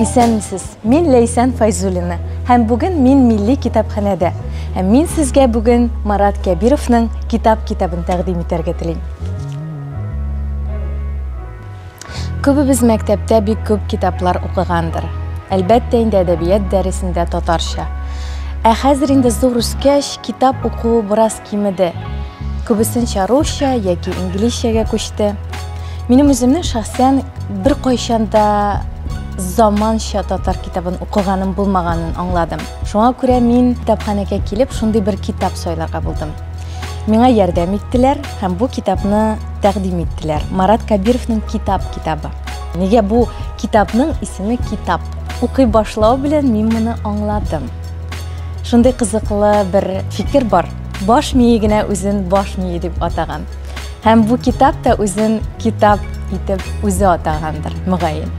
Исәнмесез, мин Ләйсән Файзулина һәм бүген мин милли китапханәдә. Һәм мин сезгә бүген Марат Кәбировның китап китабын тәкъдим итәргә телим. Күбебез мәктәптә бик күп китаплар укыгандыр. Әлбәттә инде әдәбият дәресендә татарча. Ә хәзер инде зур үскәч, китап укуы бераз Кимеде. Күбесенчә русча яки инглизчәгә күчте. Минем үземнең шәхсән беркайчан да заманча татар китабын укыганым булмаганын аңладым. Шуңа күрә мин китапханәгә килеп, шундый бер китап сайларга булдым. Миңа ярдәм иттеләр һәм бу китапны тәкъдим иттеләр. Марат Кабировның Китап китабы. Нигә бу китапның исеме Китап? Укый башлау белән мин моны аңладым. Шундый кызыклы бер фикер бар. Баш мие генә үзен баш мие дип атаган. Һәм бу китап та үзен китап итеп үзе атагандыр, мөгаен.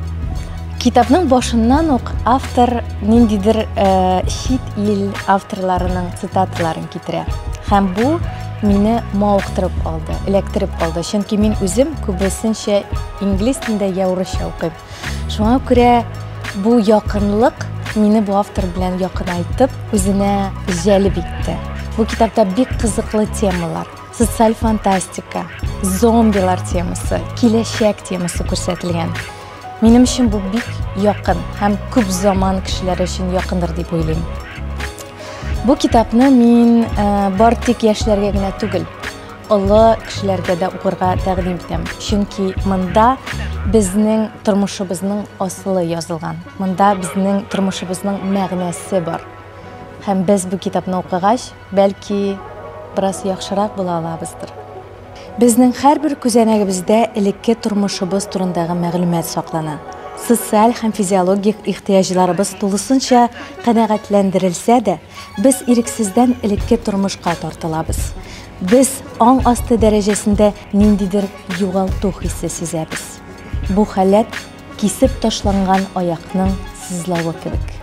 Китапның башыннан ук автор ниндидер э, чит ил авторларының цитаталарын китерә. Һәм бу мине мавыктырып алды, эләктереп алды. Чөнки мин үзем күбесенчә инглиз телендә я урысча укыйм. Шуңа күрә бу якынлык мине бу автор белән якынайтып, үзенә җәлеп итте. Бу китапта бик кызыклы темалар, социаль фантастика, зомбилар темасы, киләчәк темасы күрсәтелгән. Минем өчен бу бик якын һәм күп заман кешеләре өчен якындыр дип уйлыйм. Бу китапны мин э, бар тик яшьләргә генә түгел, Олы кешеләргә дә укырга тәкъдим итәм, чөнки монда безнең тормышыбызның асылы язылган, монда безнең тормышыбызның мәгънәсе бар. Һәм без бу китапны укыгач, бәлки, бераз яхшырак була алабыздыр. Безнең һәрбер күзәнәгебездә элекке тормышыбыз турындагы мәгълүмат саклана. Социаль һәм физиологик ихтыяҗларыбыз тулысынча канәгатьләндерелсә дә, Без ирексездән элекке тормышка тартылабыз. Без аң асты дәрәҗәсендә ниндидер югалту хисе сизәбез. Бу халәт кисеп ташланган аякның сызлавы кебек.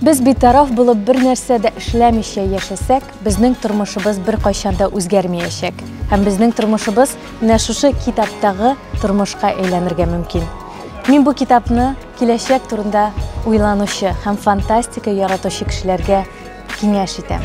Без битараф булып бер нәрсә дә эшләмичә яшәсәк, безнең тормышыбыз беркайчан да үзгәрмиячәк. Һәм безнең тормышыбыз менә шушы китаптагы тормышка әйләнергә мөмкин. Мин бу китапны Киләчәк турында уйланучы һәм фантастика яратучы кешеләргә киңәш итәм.